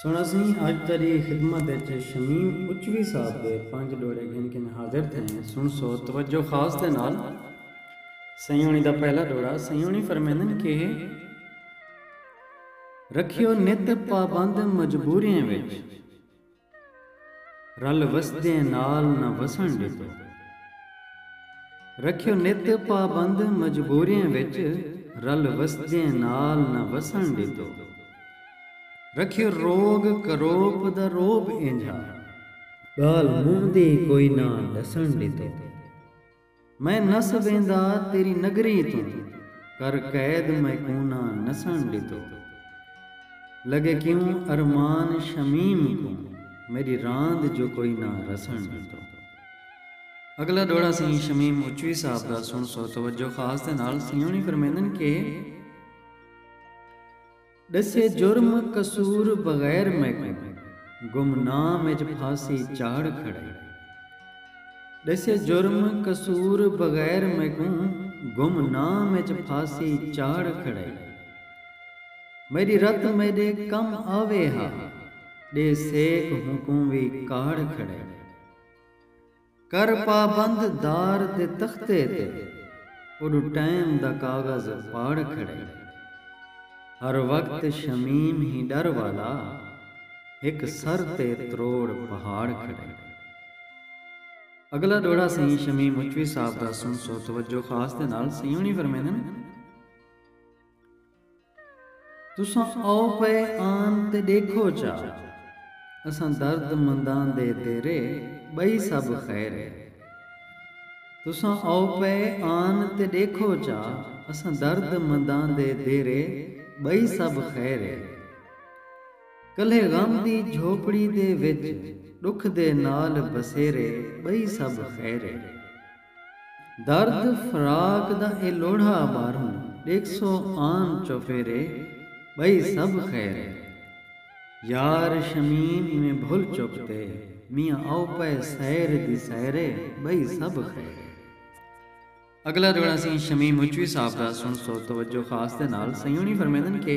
سوہݨا سئیں اڄ تیݙی خدمت اچ شمیم اچوی صاحب دے پنج ݙوہڑے گھن کنڄ حاضر تھئیں سݨ سو توجہ خاص دے نال سئیں ہوݨی دا پہلا ݙوہڑا سئیں ہوݨی فرمیندن کہ رکھیو نت پابند مجبوریں وچ رل وسدیں نال نہ وسݨ ݙتو۔ رکھیو نت پابند مجبوریں وچ رل وسدیں نال نہ وسݨ ݙتو۔ رکھیو روگ کروپ دا رعب اینجھا۔ ڳالھ منہ دی کوئی نہ ݙسݨ ݙتو۔ میں نس ویندا تیری نگری توں کر قید میں کوناں نسن ڈتو لگے کیوں ارمان شمیم کوں میڈی راند جو کوئی نہ رسن ڈتو۔ اگلا ڈوہڑا سئیں شمیم اچوی صاحب دا سنڑسو توجہ خاص دے نال سئیں ہونی فرمیندن کہ۔ ڈسے جرم قصور بغیر میکوں گمنام اچ پھاسی چاڑھ کھڑائی ڈسے جرم قصور بغیر میکوں گمنام اچ پھاسی چاڑھ کھڑائی میڈی رت میڈے کم آوے ہا ڈے سیک ہونکوں وی کاڑھ کھڑائی کر پابند دار دے تختے تے اوݙو ٹائم دا کاغذ پاڑ کھڑائی۔ ہر وقت شمیم ہی ݙر والا ہک سر تے تروڑ پہاڑ کھڑائی۔ اگلا ݙوہڑا سئیں شمیم مچوی صاحب دا سݨسو توجہ خاص دے نال سئیں ہݨی فرمیندن۔ تساں آؤ پئے آن تے ڈیکھو چا اساں درد منداں دے تیرے بئی سب خیر اے تساں آؤ پئے آن تے ڈیکھو چا اساں درد منداں دے دیرے بئی سب خیر اے کلھے غم دی جھوپڑی دے وچ ڈکھ دے نال بسیرے بئی سب خیر اے۔ درد فراق دا اے لوڑھا ٻاہروں ݙیکھسو آن چوفیرے ٻئی سب خیر اے یار شمیم ایویں بھل چپ تے میاں آؤ پئے سیر دی سیرے ٻئی سب خیر اے۔ اڳلا جوڑا اسیں شمیم مچوی صاحب دا سݨسو توجہ خاص دے نال سئیں ہوݨی فرمیندن کہ۔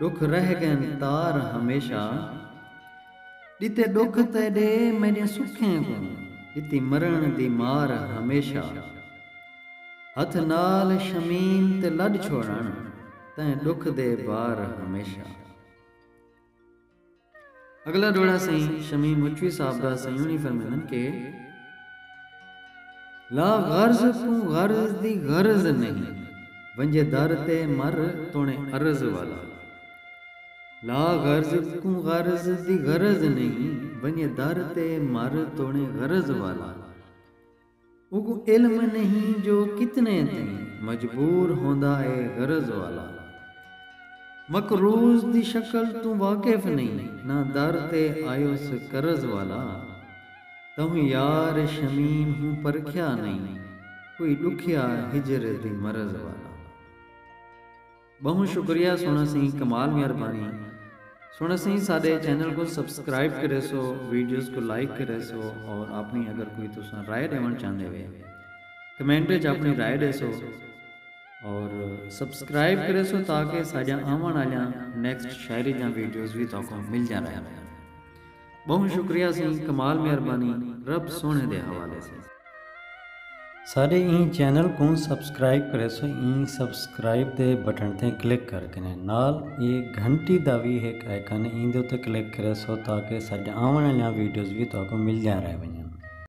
ݙکھ رہ ڳئن تار ہمیشہ ݙتے ݙکھ تیݙے میݙیں سکھیں کوں ݙتی مرݨ دی مار ہمیشہ ہتھ نال شمیم تے لݙ چھوڑݨ تئیں ݙکھ دے بار ہمیشہ۔ اگلا ڈوہڑا سئیں شمیم مچوی صاحب دا سئیںانی فرمیندن کہ لا غرض کوں غرض دی غرض نہیں ونجے در تے مر تونے عرض والا لا غرض کوں غرض دی غرض نہیں ونجے در تے مر تونے غرض والا۔ اوکوں علم نہیں جو کتنے تئیں مجبور ہوندا اے غرض والا مقروض دی شکل توں واقف نہیں نہ در تے آیوس قرض والا تہوں یار شمیم ہوں پرکھیا نہیں کوئی ڈکھیا ہجر دی مرض والا۔ ٻہوں شکریہ سوہݨا سئیں کمال مہربانی سوہݨا سئیں ساݙے چینل کوں سبسکرائب کریسو ویڈیوز کوں لائک کریسو اور آپݨی اگر کوئی تساں رائے ݙیوݨ چاہندے وے کمنٹ وچ آپݨی رائے ݙیسو اور سبسکرائب کریسو تاکہ ساݙیاں آوݨ آلیاں نیکسٹ شاعری دیاں ویڈیوز وی تہاکوں مل جاں رہن ٻہوں شکریہ سی کمال مہربانی رب سوہݨے دے حوالے سی۔ ساݙے ایں چینل کوں سبسکرائب کریسو ایں سبسکرائب دے بٹن تے کلک کر کنے نال اے گھنٹی دا وی ہک آئیکن اے ایندے اتے کلک کریسو تاکہ ساݙیاں آوݨ آلیاں ویڈیوز وی تہاکوں ملدیاں رہ ونڄن۔